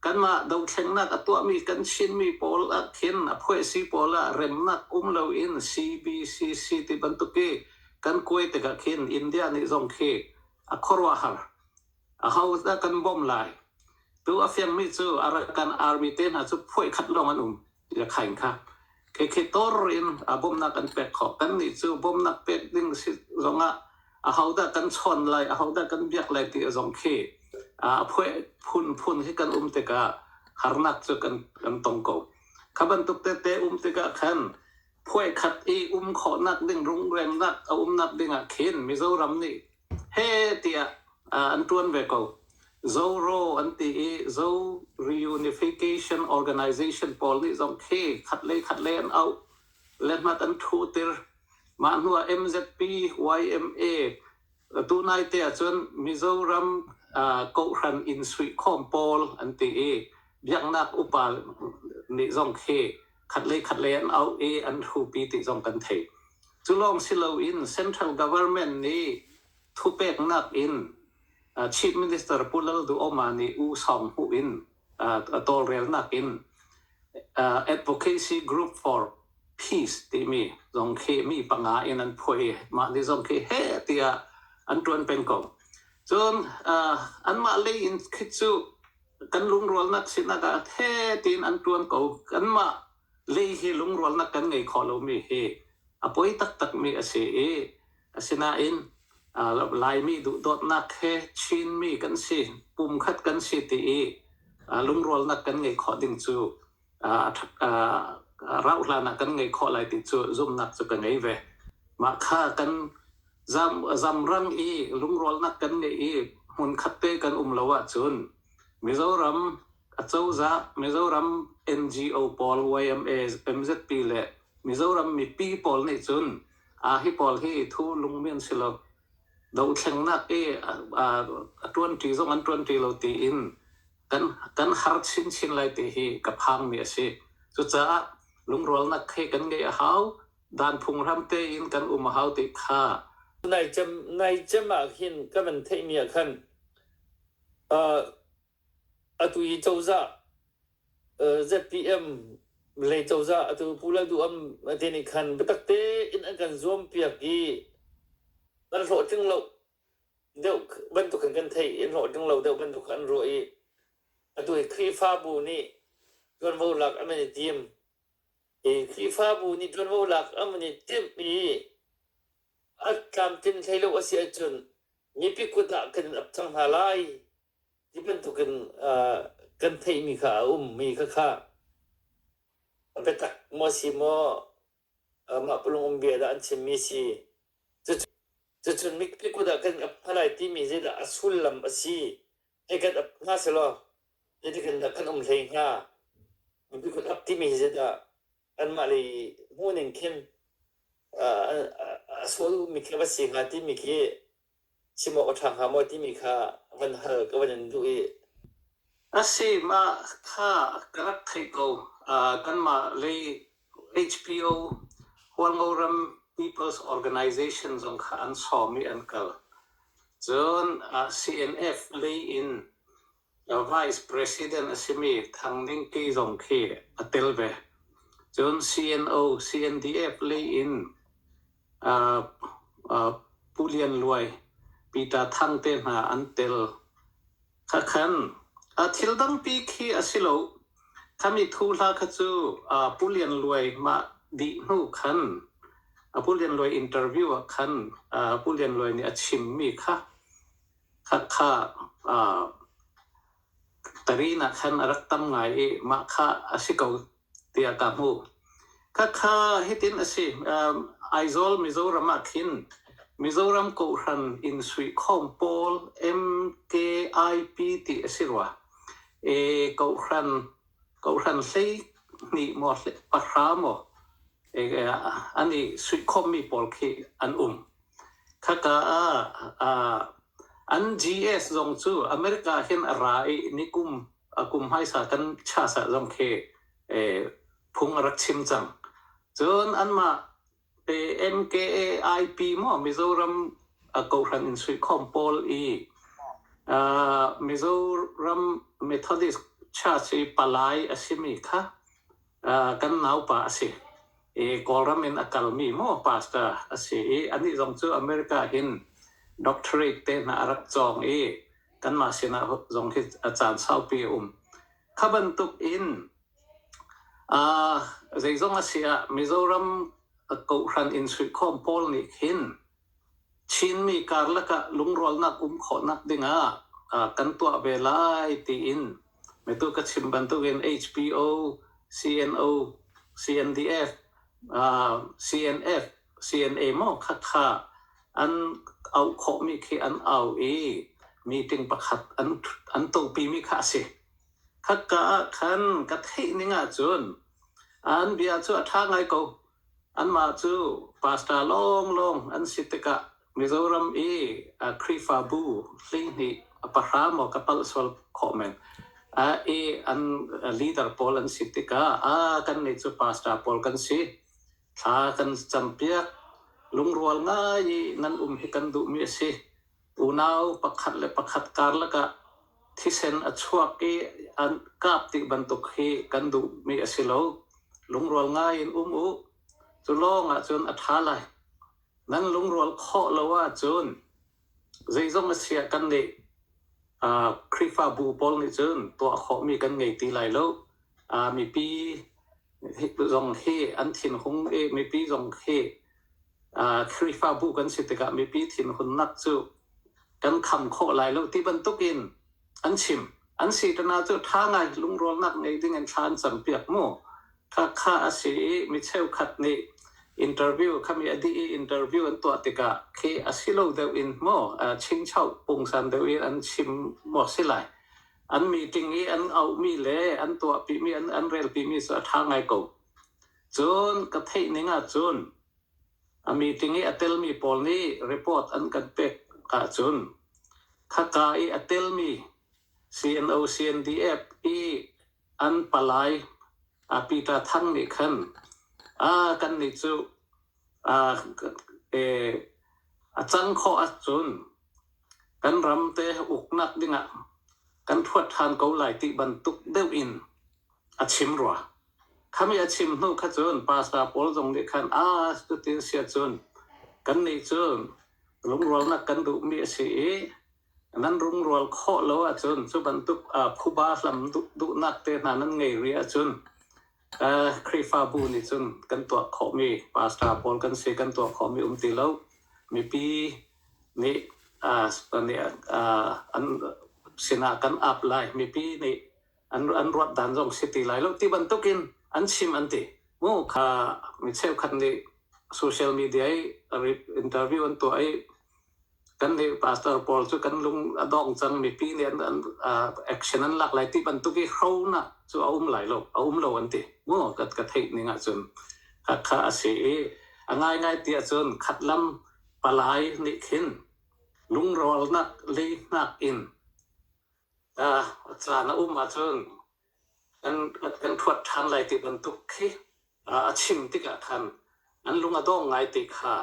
Kanmah dohthlengnak a tuahmi kan Chinmi pawl ahkhin a phuahsi pawl ah remnak um loin CBCC ti bantuk i kan kuai tikah khin India nih zong khi a khuaruahhar. Ahodah kan bawmh lai? Tu a fiangmi cu kan army te hna cu phuai khat lawng an um Yakhain kha. Kekhe tor in a bawmhnak an pek khawh. Kannih cu bawmhnak pek ding si zongah ahodah kan chawn lai, ahodah kan biak lai ti zong khi a phuai phunphun hi kan um tikah harnak cu kan tong ko. Kha bantuk tete um tikah khan phuekhat i um khawhnak ding rungrengnak a umnak ding ah khin Mizoram nih he tiah an ṭuan ve ko. Zoro an ti i Zo Reunification Organization pawl nih zong khi khatlei khatlei an auh le hnat an ṭhutir. Mah hnu ah MZP, YMA, Tunaite ahcun Mizoram kohhran inn suihkhawm pawl an ti i biaknak upa nih zong khi khatlei khatlei an auh i an hupi ti zong kan theih. Cu lawng si loin central government nih thupeknak in Chief Minister Pu Lal Duh Auma nih U Sawng Hmuh in a tawlrelnak in Advocacy Group for Peace timi zong khi mi panga in an phuah i mah ni zong khi heh tiah an ṭuan peng ko. Cun anmah lei in khi cu kan lungrualnak sinak ah ṭhe tiin an ṭuan ko. Kanmah lei hi lungrualnak kan ngei kho lomi hi a poi taktakmi a si i asinain Laimi duhdawtnak he Chinmi kan si pumkhat kan si ti i lungrualnak kan ngei khawh ding cu rauhhlan ah kan ngei khawh lai ti cu zumhnak cu ka ngei ve. Mah kha kan zamrang i lungrualnak kan ngeih i hmunkhat te kan um lo ahcun Mizoram Acozah, Mizoram NGO pawl YMNZP le Mizoram mipi pawl nih cun hi pawl hi thu lungmi an si lo. Dohthlengnak i a ṭuanṭi zong an ṭuanṭi lo tiin kan har chinchin lai ti hi ka phangmi a si. Cucaah lungrualnak he kan ngeih a hau. Dan phunghram tein kan um a hau ti kha naicem naicem ah hin ka van theihmi ah khan Atu hi cozah ZPM lei cozah atu Pu Lalduham te nih khan biatak tein an kan zuampiak i an hlawhtling lo deuh bantuk in kan theih i an hlawhtling lo deuh bantuk an ruah i atu hi Khrihfabu nih ṭuanvo lak an van i tim. Hi Khrihfabu nih ṭuanvo lak an van i timh i a tlamtlin hlei lo a si ahcun mipi kut ah kan in ap cang hna lai Hi bantukin uh, kan theihmi kha a ummi kha kha a biatak maw si maw uh, mah pulung um bia dah an chimmi si cucu cucun mikpi kut ah kan ap hna lai timi zeidah a sullam a si ei kan ap hna selaw zeitikan dah kan um hlei hnga mipi kut ap timi hi zeidah anmah lei hmuh ning khin uh, a, a, a sual ummi khi va si hnga timi khi Chim awk a ṭha hnga maw timi kha van hal ka van in duh i A si, mah kha ka rak theih ko. Uh, kanmah lei HPO, Hualngo ram People's Organization zong kha an sawm i an kal. Cun uh, CNF lei in A vice president a simi Thang Ning Kyi zong khi a tel ve. Cun CNO, CNDF lei in aa aa Pu Lian Luai, Peter Thang te hna an tel. Khakhan a thil tampi khi a si lo. Khami thu hla kha cu aa Pu Lian Luai mah dih hnu khan a Pu Lian Luai interview ah khan aa Pu Lian Luai nih a chimmi kha Hakha aa pari nak khan a rak tam ngai i mah kha a si ko tiah ka hmuh. Hakha hitin a si. Um, Aizawl Mizoram ah khin Mizoram Kohhran Insuihkhawm pawl MKIP ti a si rua. E, kohhran Kohhran hleihnih maw pahra maw an i suihkhawmmi pawl khi an um. Khaka ah an GS zong cu America hin a ra i nikum a kum hmaisa kan chasa zong khi phung a rak chim cang. Cun anmah Pe NKA IP maw Mizoram kohhran in suikhawm pawl i uh, Mizoram Methodist Church i palai a simi kha uh, kan naupa a si. I Kawlram in a kalmi maw pastor a si i anih zong cu America hin doctorate te hna a rak cawng i kanmah sinah zong hi a caan saupi a um. Kha bantuk in Zeizong a si ah Mizoram kohhran in suikhawm pawl nih khin Chinmi karlak ah lungrualnak um khawhnak dingah kan tuah ve lai tiin atu ka chim bantukin HBO, CNO, CNDF, CNF, CNA maw Khakha an auh khawhmi khi an au i meeting pakhat an topi mi kha a si. Khaka ah khan ka theih ning ahcun an bia cu a ṭha ngai ko. Anmah cu pastor lawnglawng an si tikah Mizoram i Khrihfabu hleihnih a pahra maw ka palh sual khawh men. I an leader pawl an si tikah kannih cu pastor pawl kan si. Thla kan cam piak. Lungrual ngai i nan um hi kan duhmi a si. Unau pakhat le pakhat karlak ah thisen a chuak i an kap ti bantuk hi kan duhmi a si lo. Lungrual ngai in um u. Cu lawng ahcun a ṭha lai. Nan lungrual khawh lo ahcun zeizong a siah kannih aa Khrihfabu pawl nih cun tuah khawhmi kan ngei ti lai lo. Aa mipi zong hi an thinhung i mipi zong hi Khrihfabu kan si tikah mipi thinhunnak cu kan kham khawh lai lo ti bantukin an chim. An si ṭana cu ṭha ngai lungrawlnak ngei dingin thla an campiak mu. Khakha a si i mi cheukhat nih interview khami a dih i interview an tuah tikah khi a si lo deuh in maw chinchoh pungsan deuh in an chim maw si lai. An meeting i an auhmi le an tuahpimi, an relpimi cu a ṭha ngai ko. Cun ka theih ning ahcun a meeting i a telmi pawl nih report an kan pek ahcun khaka i a telmi CNO CNDF i an palai Peter Thang nih khan kannih cu a cang khawh ahcun kan ram te uknak dingah kan thuat ṭhan ko lai ti bantuk deuh in a chim rua. Khami a chim hnu kha cun pasa pawl zong nih khan a cutin a si ahcun kan nih cu lungrualnak kan duhmi a si i nan lungrual khawh lo ahcun cu bantuk phuba hlam duhnak te hna nan ngei rih ahcun Khrihfabu nih cun kan tuah khawhmi pasa pawl kan si kan tuah khawhmi um ti lo. Mipi nih an sinah kan ap lai. Mipi nih an an ruat dan zong si ti lai lo ti bantukin an chim an ti mu kha mi cheukhat nih social media i interview an tuah i kan nih pastor paul cu kan lung a dong cang mipi nih an, an uh, action an lak lai ti bantuk i hronak cu a um lai lo a um lo an ti mu ka ka theih ning ahcun ka kha a si i a ngai ngai ti ahcun khat lam palai nih khin lungrawlnak leihnak in Caan a um ahcun kan ṭhuat ṭhan lai ti bantuk khi a chim tikah khan an lung a dong ngai ti kha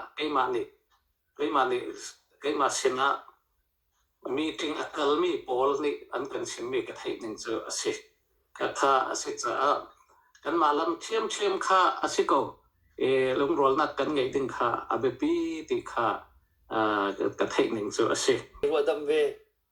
keimah sinah meeting a kalmi pawl nih an kan chimmi ka theih ning cu a si. Khakha a si caah kanmah lam ṭhiamṭhiam kha a si ko i lungrualnak kan ngeih ding kha a biapi ti kha ka theih ning cu a si.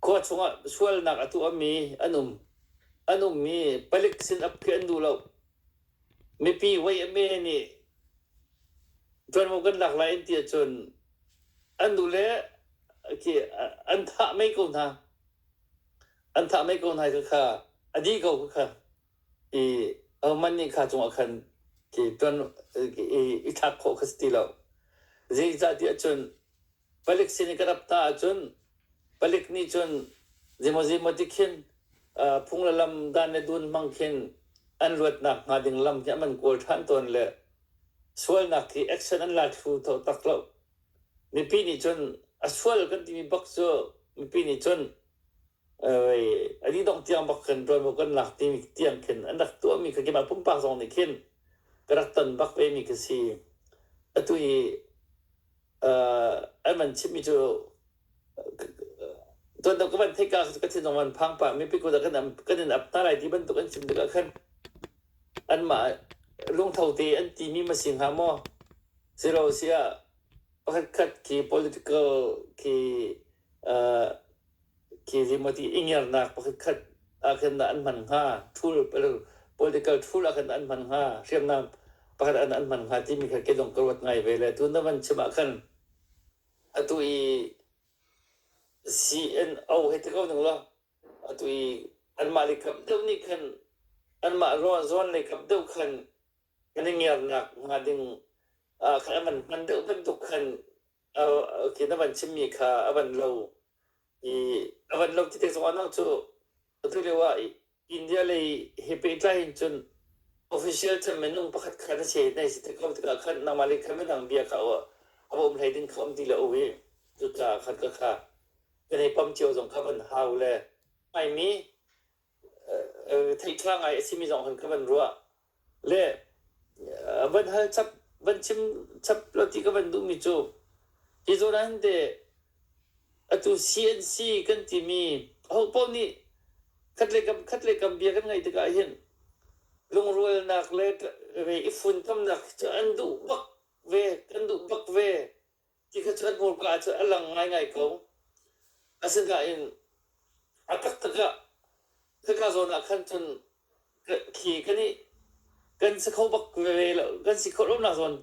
khua chungah sualnak a tuahmi an um. An ummi palik sin ap khi an duh lo. Mipi YMA nih ṭuanvo kan lak lai an ti ahcun an duh le khi an thah mai ko hna. An thah mai ko hna khakha a dih ko khakha i ahohmanh nih kha cungah khan khi ṭuan i i thlak khawh kha si ti lo. Zeicah ti ahcun palik sin i ka rap ta ahcun palik nih cun zimawzi maw ti khin phung le lam dan le dun hmang khin an luatnak hnga ding lam hi an kawl ṭhan tawn le sualnak hi action an la thlu tho tak lo mipi nih cun a sual kan timi bak cu mipi nih cun a dih dongh tiang bak kan ṭuan maw kan lak timi tiang khin an rak tuahmi kha keimah pumpak zong nih khin ka rak ton bak vemi ka si atu i an van chimmi cu tuan ka van theih ka ka thinlung van phang pah mipi kut ah kan kan in ap hna lai ti bantuk an chim tikah khan anmah lungtho te an timi ma si hnga maw si lo siah pakhatkhat khi political khi khi zimawti ingernak pakhatkhat ah khin an hman hnga ṭhul political ṭhul ah khin an hman hnga hriamnam pakhat an an hman hnga timi kha ke dong ka ruat ngai ve le tun na van chim ah khan atu i CNO hei ti ko ning law atu i anmah le kam deuh nih khan anmah rawn zawn le kam deuh khan kan i ngernak hnga ding khan an van hman deuh bantuk khan Oh, okay, na van chimmi kha a van lo i a van lo ti te zong anang cu atu lio ah India lei he pehtlai in cun official chan minung pakhat kha na si nai si te ko tikah khan nangmah le khan minang bia kha a um hlei ding kha um ti lo i cucaah khan ka kha kan i pam cio zong kha van hau le mai mi theihtlangh ngai a simi zong kan van ruah. Le van hal chap van chim chap lo ti ka van duhmi cu hi zawn ah hin teh atu CNC kan timi ho paoh nih khat le kam khat le kam bia kan ngaih tikah hin lungrualnak le i funtomnak cu an duh bak ve, kan duh bak ve. Ti kha cun hmurka cu a lang ngaingai ko. Asinain a taktak ah khika zawn ah khan cun ka- khi kan i kan si kho bak veve lo. Kan si kho lonak zawn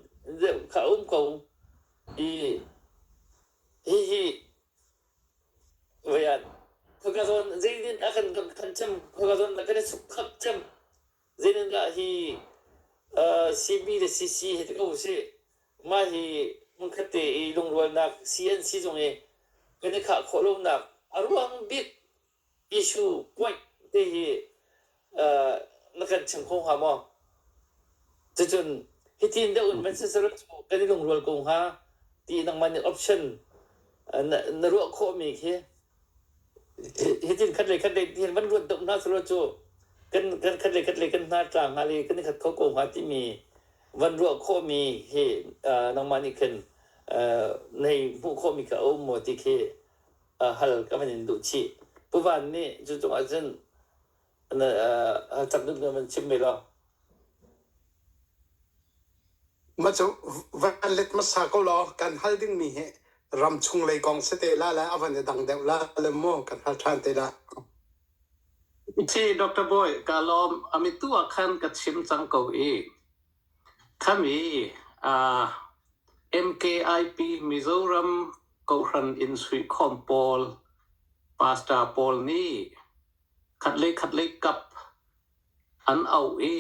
deuh kha a um ko. I hihi voi ah khika zawn zeidin a kan kan khan cem, khika zawn a kan i suk khap cem. Zeitindah hi CB le CC hi ti ko usih, mah hi hmunkhat te i lungrualnak si an si zung i kan i khah khawh lonak a ruang bik issue point te hi na kan chim kho hnga maw? Cucun hitin deuh in van sisarut cu kan i lungrual ko hnga ti nangmah nih option na ruah khawhmi khi hitin khat le khat le hin van ruat dop hna selaw cu kan kan khat le khat le kan hna tla hnga le kan i khat kho ko hnga timi van ruah khawhmi hi uh, nangmah nih khin uh, nei hmuh khawhmi kha a um maw ti khi uh, hal ka van in duh chih puvan nih cu cungah cun Mah cu van let hmasa ko law kan hal dingmi hi ram chung lei kong si te la le a van i dang deuh la le maw kan hal ṭhan te la. Ci Dr. Boy, ka lawm ami tu ah khan ka chim cang ko i khami uh, MKIP Mizoram Kohhran Insuih Khawm pawl pastor pawl nih khatlei khatlei kap an auh i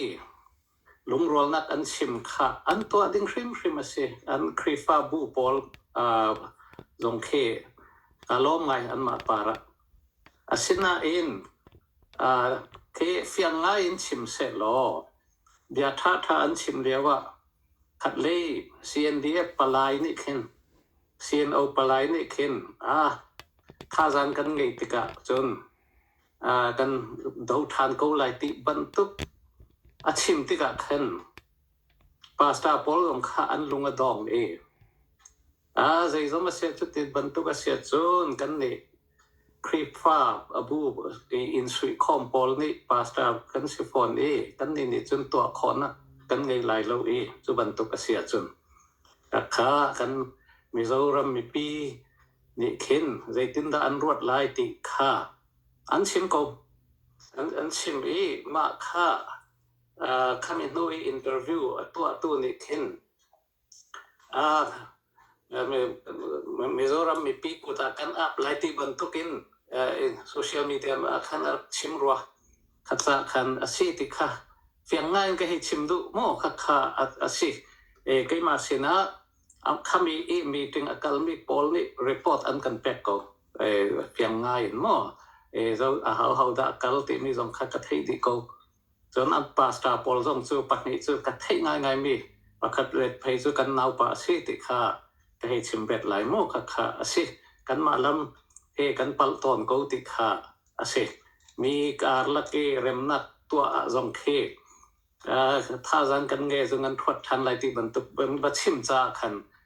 lungrualnak an chim kha an tuah ding hrimhrim a si. An Khrihfabu pawl aa zong khi aa lawm ngai anmah parah. Asinain aa khi fiang ngai in chim sehlaw bia ṭhaṭha an chim lioah khatlei CNDF palai nih khin CNO palai nih khin ah thazang kan ngeih tikah cun ah kan do ṭhan ko lai ti bantuk a chim tikah khan pastor pawl zong kha an lung a dong i a zeizong a si cu ti bantuk a si ahcun kan nih Khrihfa a bu in suihkhawm pawl nih pastor kan si fawn i kannih nih cun tuah khawhnak kan ngei lai lo i cu bantuk a si ahcun khakha kan Mizoram mipi nih khin zeitindah an ruat lai ti kha an chim ko. An chim i mah kha khami hnu i interview a tuahtu nih khin Mizoram mipi kut ah kan ap lai ti bantukin social media ah khan a rak chim rua. Kha ca khan a si ti kha fiang ngai in ka hei chim duh maw khakha a si. Keimah sinah khami i meeting a kalmi pawl nih report an kan pek ko. Fiang ngai in maw? Ho a hau dah a kal timi zong kha ka theih dih ko. Cun an pastor pawl zong cu pahnih cu ka theih ngaingai mi pakhat let phei cu kan naupa a si ti kha ka hei chim bet lai maw khakha a si. Kanmah lam he kan palh tawn ko ti kha a si. Mi karlak i remnak tuah ah zong khi thazaang kan ngei cu ngan thuat ṭhan lai ti bantuk va chim caah khan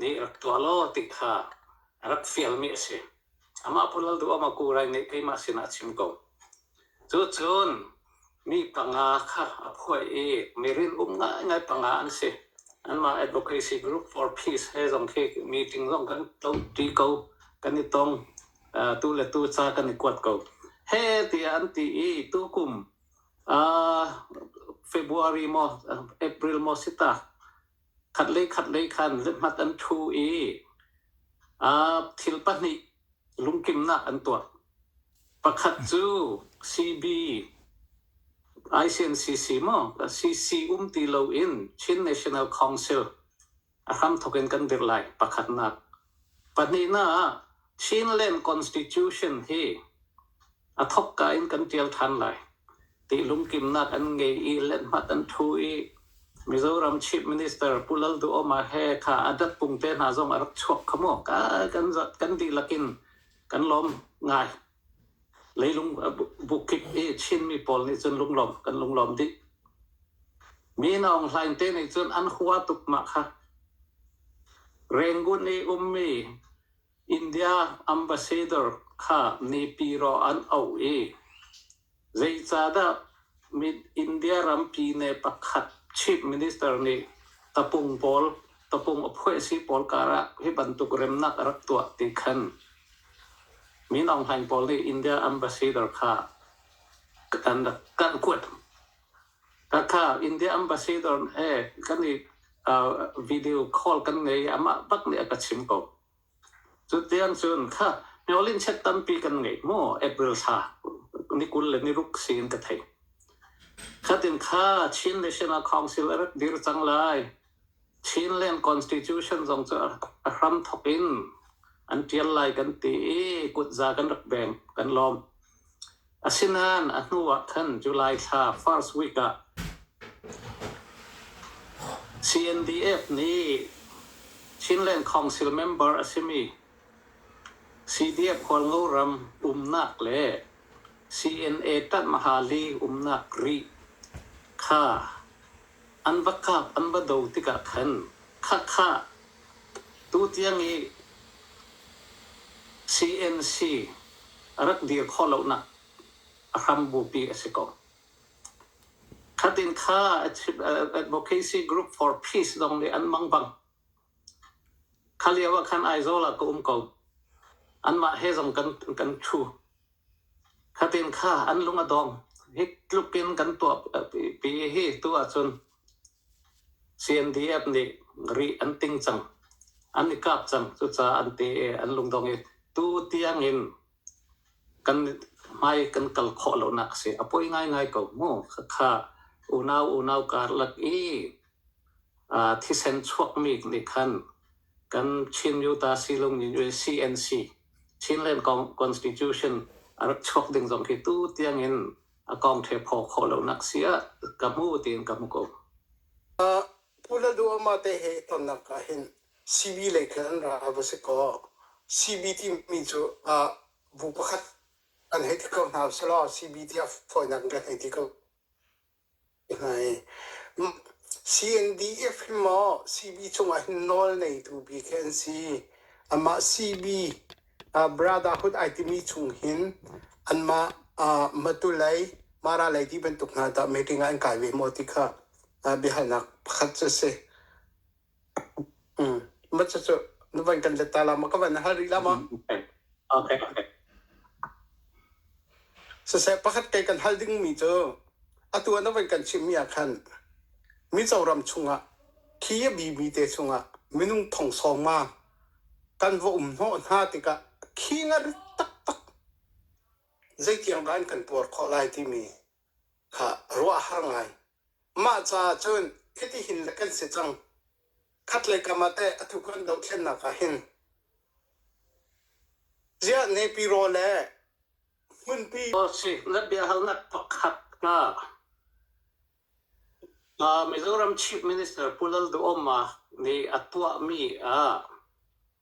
nih rak tuah law ti kha a rak fialmi a si. Amah Pu Lal Duh Amah Ku Rai nih keimah sinah a chim ko. Cucun mi panga kha a phuai i mirin um ngaingai panga an si. Anmah Advocacy Group for Peace he zong khi meeting zong kan ṭi ko, kan i tong. Uh, tu le tu ca kan i kuat ko. He tiah an ti i tukum uh, February maw April maw si ta khat le khat lei khan lehmat an thu i thil pahnih lungkimnak an tuah. Pakhat cu CB ICNCC maw CC um ti lo in Chin National Council a hramthok in kan dirh lai pakhatnak. Pahnihnak ah Chinland Constitution hi a thokka in kan tial ṭhan lai. Tihlumkimnak an ngei i letmat an ṭhu i Mizoram Chief Minister Pu Lalduhoma he kha a datpung te hna zong a rak chuak kha mu. Kan, kan dihlak in kan lawm ngai. Leilung bukik i Chinmi pawl nih cun lunglawm kan lunglawm dih. Mi na Aung Hlaing te nih cun an hua tuk mah kha. Rengun i ummi India ambassador kha mipi rawh an auh i zeicahdah India rampi ne pakhat chief minister nih tapung pawl tapung a phuah si pawl karah hi bantuk remnak a rak tuah ti khan Min Aung Hlaing pawl nih India ambassador kha kan rak kuat. Thatha India ambassador he kan i uh, video call kan ngei amah bak nih a ka chim ko. Cu tiang cun kha Myolin chet tampi kan ngei mo April sa ni kul le ni ruk sin ka thei. Khatin kha Chin National Council a rak dir cang lai Chinland Constitution zong cu a hram thawk in an ṭial lai kan ti i kutza kan rak beng kan lawm. Asinain a hnu ah khan July thla first week ah CNDF nih Chinland Council member a simi CDF Khualngo ram umnak le CNA Ṭanh Mahali umnak rih kha an va kap an va do tikah khan Khakha tutiang i CNC rak dir khawh lonak a hram bupi a si ko. Khatin kha Advocacy Group for Peace zong nih an mang bang kha lio ah khan Aizawl ah ka um ko. Anmah he zong kan, kan thu. Fatin kha an lung a dawm. Hik tluk in kan tuah pi hi tu ahcun CNDF nih rih an ting cang. An i kap cang. Cucaah an ti i an lung dong i tu tiang in kan hmai kan kal khawh lonak a si. A poi ngaingai ko mu. Khakha unau unau karlak i thisen chuakmi nih khan kan Chin Utah Silung in CNC Chinland Constitution a rak chuak ding zong khi tu tiang in a kong ṭhe phaw khawh lonak si ah ka hmu tiin ka hmu ko. Pu Lalduhoma te he i tonnak ah hin CB lei khin an ra va si kaw CB timi cu bu pakhat an hei ti ko hna selaw CB tiah fawinak in kan hei ti ko. CNDF hi maw CB cungah hin nawl neitu bik hi an si. Amah CB ah brotherhood ai timi chung hin anmah ah Matulei, Mara lei ti bantuk hna tah meeting ah an kai ve maw ti kha ah biahalnak pakhat cu a si. Mm. Maca cu na van kan let ta la ma ka van na hal rih la ma. Okay, okay. Siseh pakhat kei kan hal ding mi cu atu na van kan chim mi ah khan mi choram chungah khi a bi mi te chungah minung thong song ma kan va um hnawh hna tikah khi nga rit tak tak zeitiang kan kan puar khawh lai timi kha ruah har ngai. Mah caah cun khitihin le kan si cang. Khat le kam ah teh atu kan dohthlennak ah hin ziah nepi raw le hmunpi raw si na biahalnak pakhat kha uh, Mizoram Chief Minister Pu Lalduhoma nih a tuahmi ah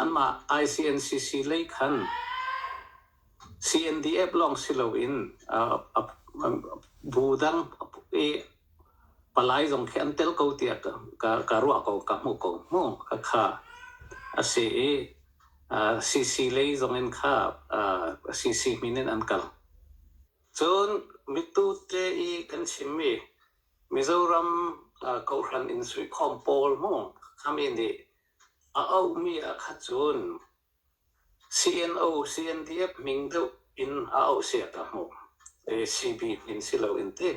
Amah ICNCC lei khan CNDF lawng si loin bu dang i palai zong khi an tel ko tiah ka ruah ko, ka hmuh ko hmu khakha a si i CC lei zong in kha CC min in an kal. Cun mitute i kan chimmi Mizoram kohhran in suikhawm pawl mu kami nih a auhmi ahkhat cun CNO, CNDF hming deuh in a auh sia ta mu. CBP in si loin ti.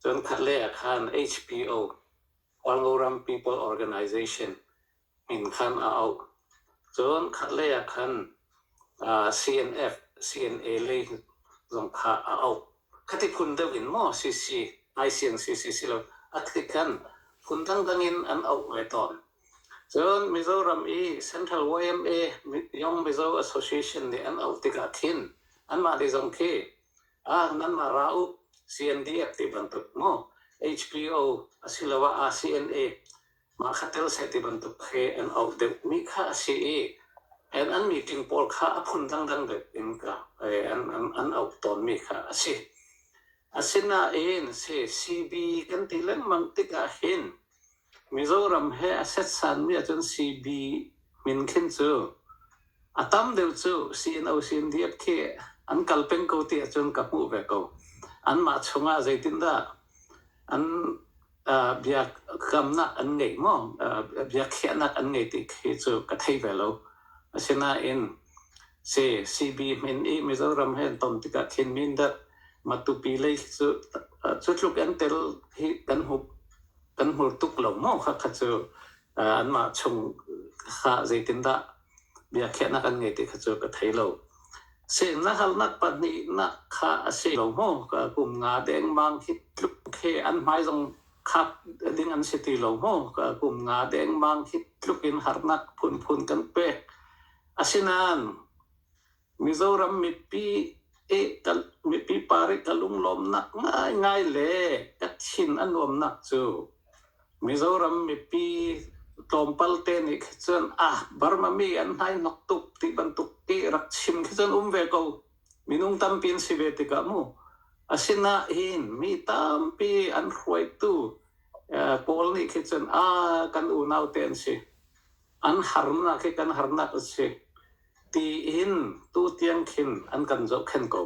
Cun khatlei ah khan HPO, Khualngo Ram People Organization, inn khan a auh. Cun khatlei ah khan CNF, CNA lei zong kha a auh. Khati phun deuh in maw CC, ICNCC si lo, a thit khan phun dangdang in an auh ve tawn. Cun Mizoram i Central YMA, Young Mizo Association nih an auh tikah khin anmah nih zong khi nanmah ra u CNDF ti bantuk maw, HPO asiloah CNA Mahkhatel seh ti bantuk khi an auh deuhmi kha a si i an an meeting pawl kha a phun dangdang deuh in an auh tawnmi kha a si. Asinain CB kan ti lengmang tikah hin Mizoram he a setsanmi ahcun CB min khin cu a tam deuh cu CNO CNDF khi an kal peng ko ti ahcun ka hmuh ve ko. Anmah chungah zeitindah an uh, bia gamnak an ngei maw uh, bia khiahnak an ngei ti khi cu ka thei ve lo asinain si CB min i Mizoram hen ton tikah thin min dat matupi lei cu cu tluk an tel hi kan hu kan hur tuk lo mo kha kha cu an mah chung kha zeitin dah biakhiahnak an ngei ti kha cu ka thei lo. Si na halnak pahnihnak kha a si lo maw? Ka kum nga dengmang hi tluk he an hmai zong khap ding an si ti lo maw? Ka kum nga dengmang hi tluk in harnak phunphun kan pek. Asinain Mizoram mipi mipi parih ka lunglawmnak ngaingai le ka thin a nuamnak cu Mizoram mipi tlawmpal te nih kha cun ah Burma mi an hnainok tuk ti bantuk i rak chim khi cun um ve ko. Minung tampi an si ve tikah mu. Asinain mi tampi an hruaitu pawl nih khi cun a kan unaute an si. An harnak hi kan harnak a si. Tiin tutiang khin an kan zohkhenh ko.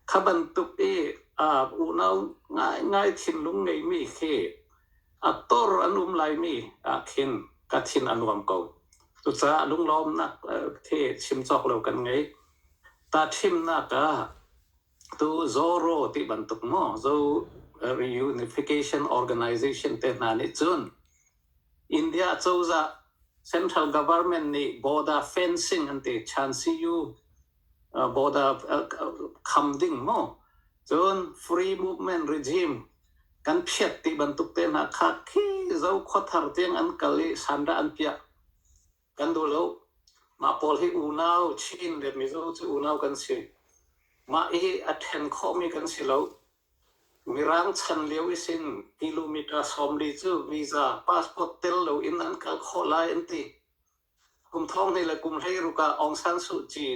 Kha bantuk i aa unau ngaingai thinlung ngeimi khi a tor an um laimi ah khin ka thin a nuam ko. Cucaah lunglawmnak khi chim cawk lo kan ngei. Tahṭhimnak ah tu Zoro ti bantuk maw Zo Reunification Organization te hna nih cun India cozah central government nih border fencing an ti than si u. Border kham ding mu. Cun free movement regime kan phiat ti bantuk te hna kha khi Zokhaw thar tiang an kal i sandah an piah kan duh lo. Mah pawl hi unau Chin le Mizo cu unau kan si. Mah hi a then khawhmi kan si lo. Mirang chan lio i sin kilometre sawm li cu visa passport tel loin an kal khawh lai an ti. Kum thong hlei le kum hlei ruk ah Aung San Suu Kyi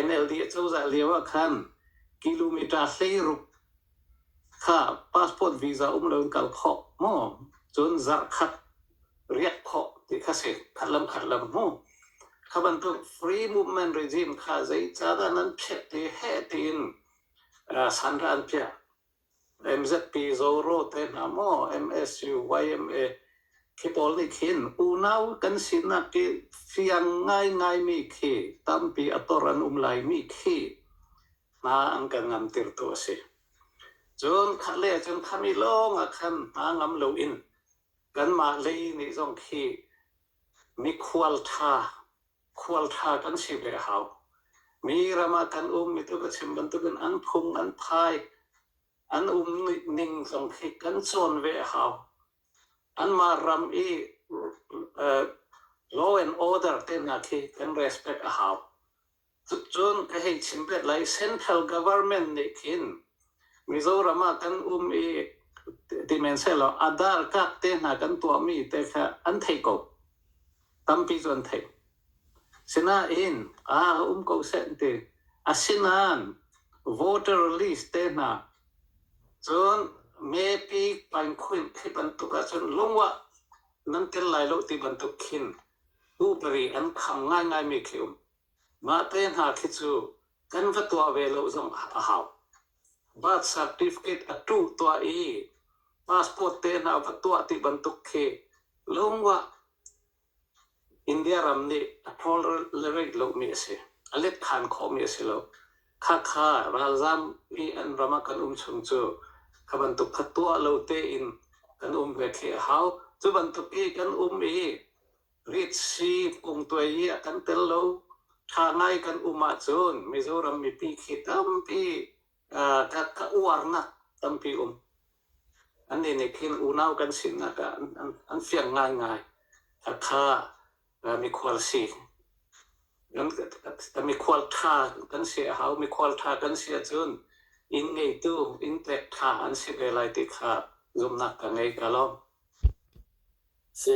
NLD acozah lio ah khan kilometre hlei ruk kha passport visa um loin kal khawh maw? Cun zarh khat riak khawh ti kha si. Khat lam khat lam hmu. Kha bantuk free movement regime kha zeicadah nan pheh ti heh tiin San ra an piah. MZP Zoro te hna maw, MSU, YMA, khi pawl nih khin unau kan sinak i fiang ngaingaimi khi tampi a tor an um laimi khi hna an kan ngamtirtu a si. Cun khale cun khami lawngah khan hna ngam loin kanmah lei nih zong khi mikhual ṭha khualtha kan si ve a hau. Mi ram ah kan um mi tluk a chim bantukin an phung an phai an um ning zong khi kan cawn ve a hau. Anmah ram i uh, law and order te hna khi kan respect a hau. Cun ka hei chim ve lai central government nih khin Mizoram ah kan um i ti men selaw adar kak te hna kan tuah mi te kha an thei ko. tampi cu an theih. Sinain aa um ko seh an ti. Asinain voter list te hna cun mepi painkhun khi bantuk ahcun lungah nan tel lai lo ti bantuk khin tu pari an kham ngaingaimi khi um. Mah te hna khi cu kan va tuah ve lo zong a hau. Birth certificate a tuh tuah i passport tehna a va tuah ti bantuk khi lung ah India ram nih a tolerate lomi a si. A let than khawhmi a si lo. Khakha ralzaam i an ram ah kan um chung cu kha bantuk kha tuah lo tein kan um ve khi a hau. Cu bantuk i kan um i Ritsi kumtuai hi a kan tel lo. Ṭha ngai kan um ahcun Mizoram mipi khi tampi uh, ka, ka uarnak tampi um. An nih nih khin unau kan sinak ah an, an, an fiang ngaingai. Thatha uh, mikhual si. Kan mikhual ṭha kan si a hau. Mikhual ṭha kan si ahcun inn ngeitu, inn tlek ṭha an si ve lai ti kha zumnak ka ngei ka lawm. Si.